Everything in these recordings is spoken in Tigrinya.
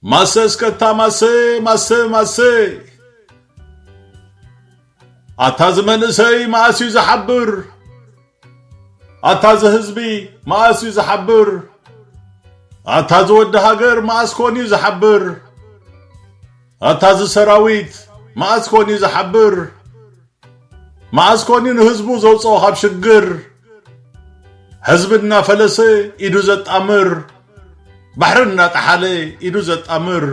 ማሰ እስከታ ማሰ ማሰ ማሰ ኣታ ዝመንእሰይ መኣስ እዩ ዝሓብር ኣታ እዚ ህዝቢ መኣስ እዩ ዝሓብር ኣታ እዚ ወዲ ሃገር መኣስ ኮን እዩ ዝሓብር ኣታ እዚ ሰራዊት መኣስ ኮን እዩ ዝሓብር መኣስ ኮን እዩ ንህዝቡ ዘውጽኦ ካብ ሽግር ሕዝቢ እናፈለሰ ኢዱ ዘጣምር ባሕሪ እናጠሓለ ኢዱ ዘጣምር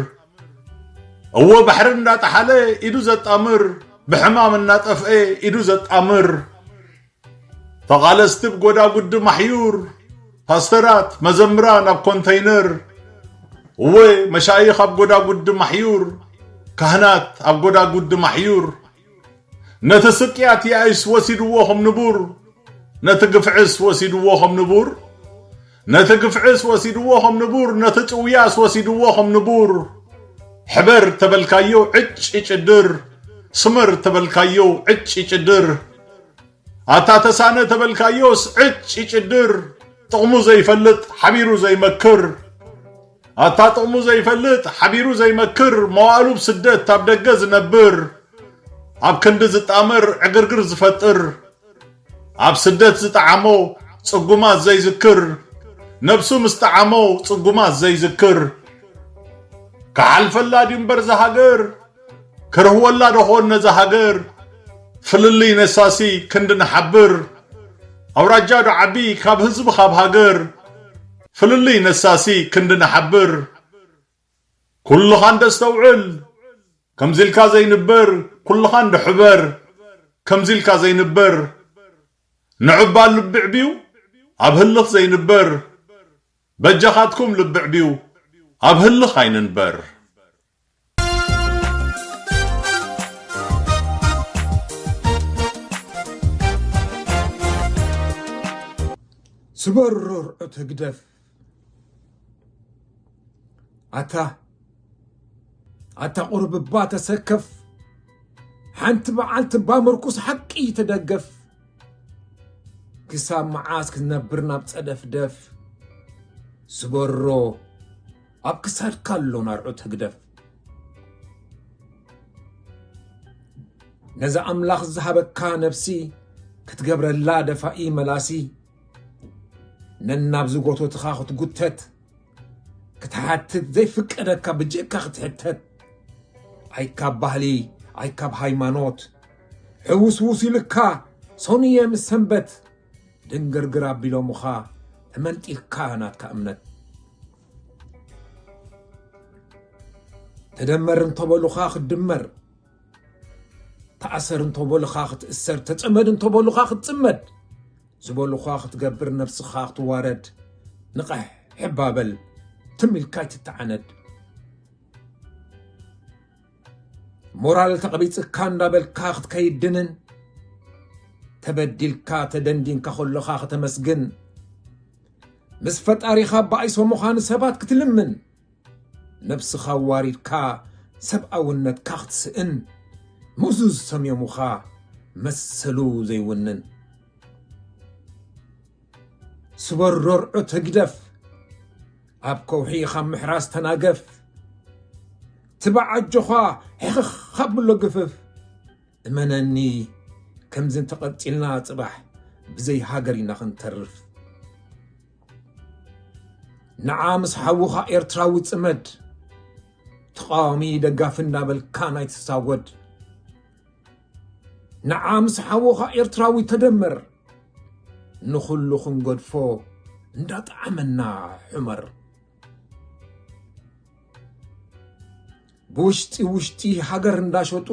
እወ ባሕሪ እንዳጠሓለ ኢዱ ዘጣምር ብሕማም እናጠፍአ ኢዱ ዘጣምር ተቓለስቲ ብጎዳጉዲ ማሕዩር ፓስተራት መዘምራን ኣብ ኮንተይነር እወ መሻይኽ ኣብ ጎዳጉዲ ማሕዩር ካህናት ኣብ ጎዳጉዲ ማሕዩር ነቲ ስቅያት ያኢስ ወሲድዎ ከም ንቡር ነቲ ግፍዕስ ወሲድዎ ከም ንቡር ነቲ ግፍዕስ ወሲድዎ ከም ንቡር ነቲ ጭውያስ ወሲድዎ ከም ንቡር ሕበር ተበልካዮ ዕጭ ይጭድር ስመር ተበልካዮ ዕጭ ይጭድር ኣታ ተሳነ ተበልካዮስ ዕጭ ይጭድር ጥቕሙ ዘይፈልጥ ሓቢሩ ዘይመክር ኣታ ጥቕሙ ዘይፈልጥ ሓቢሩ ዘይመክር መዋእሉ ብ ስደት ኣብ ደገ ዝነብር ኣብ ክንዲ ዝጣመር ዕግርግር ዝፈጥር ኣብ ስደት ዝጠዓሞ ጽጉማት ዘይዝክር ነብሱ ምስ ጠዓሞ ጽጉማት ዘይዝክር ክሓልፈላ ድዩ እምበር እዛ ሃገር ክርህወላ ዶ ኾን ነዛ ሃገር ፍልልይ ነሳሲ ክንዲ ንሓብር ኣውራጃ ዶ ዓቢ ካብ ህዝቢ ካብ ሃገር ፍልልይ ነሳሲ ክንዲ ንሓብር ኩልኻ እንደ ኣስተውዕል ከምዚ ኢልካ ዘይንበር ኩልኻ እንደ ሕበር ከምዚ ኢልካ ዘይንበር ንዕባል ልቢ ዕብዩ ኣብ ህልኽ ዘይንበር በጃኻትኩም ልቢ ዕብዩ ኣብ ህልኽ ኣይንንበር። ስበሩር እቲ ህግደፍ ኣታ ኣታ ቁርብባ ተሰከፍ ሓንቲ በዓልቲ እባ ምርኩስ ሓቂ ተደገፍ ክሳብ መዓስ ክትነብር ናብ ፀደፍደፍ ስበሮ ኣብ ክሳድካ ኣሎ ናርዑት ህግደፍ ነዚ ኣምላኽ ዝሃበካ ነብሲ ክትገብረላ ደፋኢ መላሲ ነናብ ዝጎቶትኻ ክትጉተት ክትሓትት ዘይፍቀደካ ብጀካ ክትሕተት ኣይካብ ባህሊ ኣይካብ ሃይማኖት ሕውስውስ ኢልካ ሰኑየ ምስ ሰንበት ድንግርግር ኣቢሎምኻ ተመንጢልካ ናትካ እምነት ተደመር እንተበሉኻ ክትድመር፣ ተኣሰር እንተበሉኻ ክትእሰር፣ ተፀመድ እንተበሉኻ ክትፅመድ፣ ዝበሉኻ ክትገብር ነብስኻ ክትዋረድ፣ ንቐሕ ሕባ በል ትም ኢልካ ኣይትተዓነድ። ሞራል ተቐቢፅካ እንዳበልካ ክትከይድንን ተበዲልካ ተደንዲንካ ከሎኻ ከተመስግን ምስ ፈጣሪኻ ባይሶ ምዃን ሰባት ክትልምን ነብስኻ ዋሪድካ ሰብኣውነትካ ክትስእን ምዙዝ ሰምዮሙኻ መሰሉ ዘይውንን ስበሮርዑት ህግደፍ ኣብ ከውሒ ካብ ምሕራስ ተናገፍ ትባዕ ኣጆኻ ሕኽኽ ኣብሎ ግፍፍ እመነኒ ከምዚ እንተቐፂልና ፅባሕ ብዘይ ሃገር ኢና ክንተርፍ ንዓ ምስ ሓውኻ ኤርትራዊ ፅመድ ተቃዋሚ ደጋፊ እናበልካ ናይ ትሳወድ ንዓ ምስ ሓውኻ ኤርትራዊ ተደመር ንኹሉ ክንገድፎ እንዳጠዓመና ሑመር ብውሽጢ ውሽጢ ሃገር እንዳሸጡ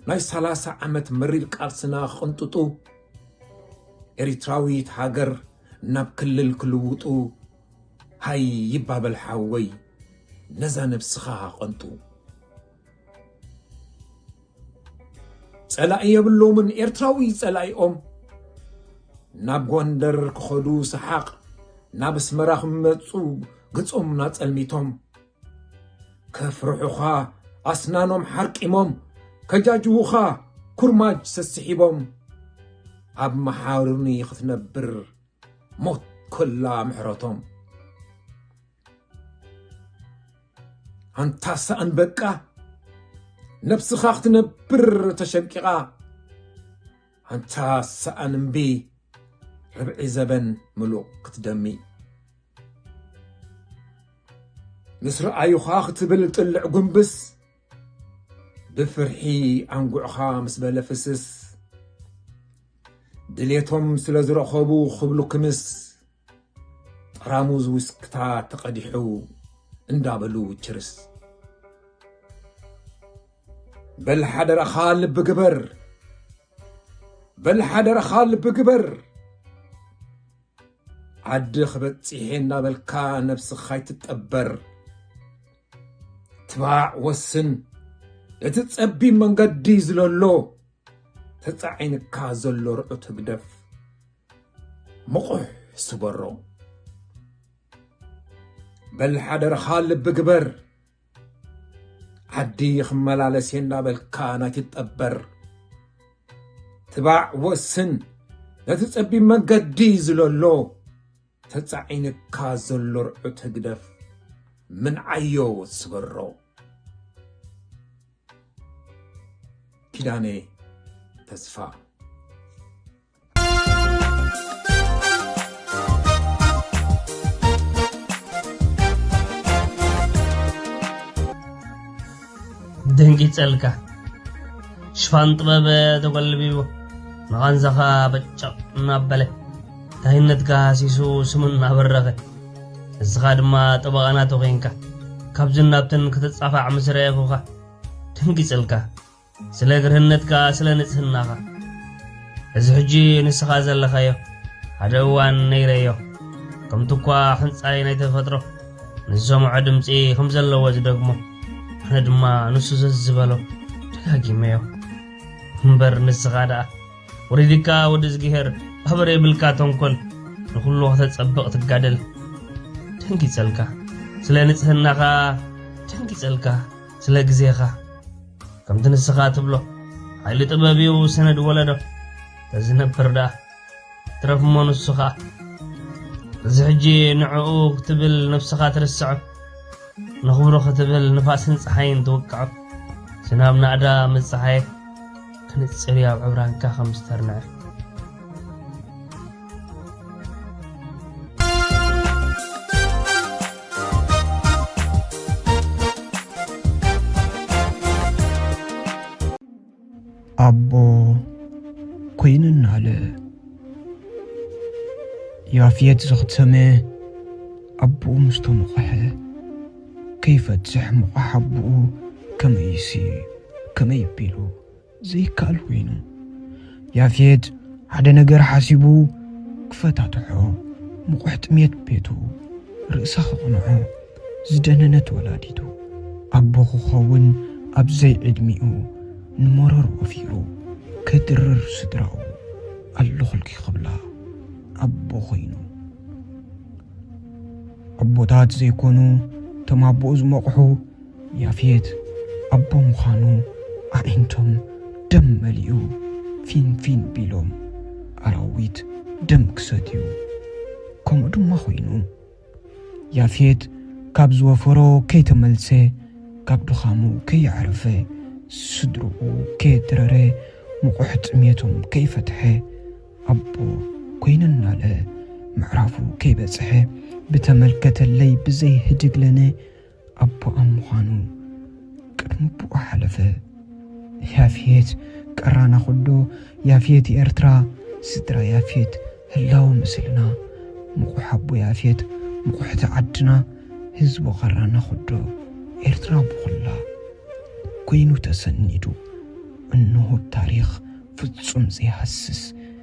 ናይ ሰላሳ ዓመት መሪር ቃልስና ክቕንጥጡ ኤሪትራዊት ሃገር ናብ ክልል ክልውጡ ሃይ ይባበል ሓወይ ነዛ ነብስኻ ቐንጡ ጸላኢ የብሎምን ኤርትራዊ ጸላኢኦም ናብ ጎንደር ክኸዱ ሰሓቕ ናብ ኣስመራ ክመፁ ግጾም ናጸልሚቶም ከፍርሑኻ ኣስናኖም ሓርቂሞም ከጃጅዉኻ ኩርማጅ ሰስሒቦም ኣብ መሓሩኒ ክትነብር ሞት ኮላ ምሕረቶም ኣንታ ሳእን በቃ ነብስኻ ክትነብር ተሸንቂቓ ኣንታ ሳእን እምቢ ርብዒ ዘበን ምሉቕ ክትደሚ ምስ ረኣዩኻ ክትብል ጥልዕ ጉንብስ ብፍርሒ ኣንጉዕኻ ምስ በለ ፍስስ ድሌቶም ስለ ዝረኸቡ ክብሉ ክምስ ጠራሙዝ ውስክታ ተቐዲሑ እንዳበሉ ችርስ በል ሓደራኻ ልቢ ግበር በል ሓደራኻ ልቢ ግበር ዓዲ ክበፂሐ እናበልካ ነብስኻ ይትጠበር ትባዕ ወስን እቲ ፀቢብ መንገዲ ዝለሎ ተፃዒንካ ዘሎ ርዑት ህግደፍ ምቑሕ ስበሮ በል ሓደራኻ ልቢ ግበር ዓዲ ክመላለስ እየ እናበልካ ናይ ትጠበር ትባዕ ወስን ነቲ ጸቢብ መንገዲ ዝለሎ ተጻዒንካ ዘሎ ርዑት ህግደፍ ምንዓዮ ስበሮ ኪዳነ ተስፋ ደንጊጸልካ ሽፋን ጥበብ ተጎልቢቡ ንቓንዛኻ በጨቕ እናበለ ታይነትካ ሃሲሱ ስሙ እናበረኸ ንስኻ ድማ ጠበቓ ናቱ ዄንካ ካብዝን ናብትን ክትጻፋዕ ምስ ረኣኹኻ ደንጊጸልካ ስለ ግርህነትካ ስለ ንጽህናኻ እዚ ሕጂ ንስኻ ዘለኻዮ ሓደ እዋን ነይረዮ ከምቲ እኳ ሕንጻይ ናይ ተፈጥሮ ንዝሰምዖ ድምፂ ከም ዘለዎ ዝደግሞ ኣነ ድማ ንሱ ዘዝበሎ ደጋጊመዮ እምበር ንስኻ ደኣ ወሪድካ ወዲ ዝግሄር ኣበረ ይብልካ ተንኮል ንኹሉ ከተጸብቕ ትጋደል ደንጊጸልካ ስለ ንጽህናኻ ደንጊጸልካ ስለ ግዜኻ ከምቲ ንስኻ ትብሎ ሓይሊ ጥበብ እዩ ሰነድ ወለዶ ተዝነብር ደኣ ትረፍ እሞ ንሱ ኸኣ እዚ ሕጂ ንዕኡ ክትብል ነብስኻ ትርስዖ ንኽብሮ ክትብል ንፋስን ፀሓይን ትውቅዖ ዝናብ ናእዳ ምፀሓየ ክንፅር እዩ ኣብ ዕብራንካ ከም ዝተርንዐ ኣቦ ኮይንናለ ያፍየት ዘኽተመ ኣቦኡ ምስ ተሞቐሐ ከይፈትሕ ምቑሕ ኣቦኡ ከመይሲ ከመይ ቢሉ ዘይከኣል ኮይኑ ያፌት ሓደ ነገር ሓሲቡ ክፈታትሖ ምቑሕ ጥሜት ቤቱ ርእሳ ክቕንዖ ዝደነነት ወላዲቱ ኣቦ ክኸውን ኣብ ዘይዕድሚኡ ንመረር ወፊሩ ከድርር ስድራኡ ኣለኹልኪ ክብላ ኣቦ ኮይኑ ኣቦታት ዘይኮኑ እቶም ኣቦኡ ዝመቑሑ ያፌት ኣቦ ምዃኑ ኣዒንቶም ደም መሊኡ ፊንፊን ቢሎም ኣራዊት ደም ክሰትዩ ከምኡ ድማ ኮይኑ። ያፌት ካብ ዝወፈሮ ከይተመልሰ ካብ ድኻሙ ከየዕረፈ ስድርኡ ከየድረረ ምቑሕ ጥሜቶም ከይፈትሐ ኣቦ ኮይነ እናለ ምዕራፉ ከይበጽሐ ብተመልከተለይ ብዘይ ህድግለነ ኣቦኣም ምዃኑ ቅድሚ ኣቦኡ ሓለፈ። ያፌት ቀራና ኩዶ ያፌት ኤርትራ ስድራ ያፌት ህላወ ምስልና ምቑሕ ኣቦ ያፌት ምቑሕቲ ዓድና ህዝቢ ቀራና ኩዶ ኤርትራ ብኹላ ኮይኑ ተሰኒዱ እንሆ ብ ታሪኽ ፍጹም ዘይሃስስ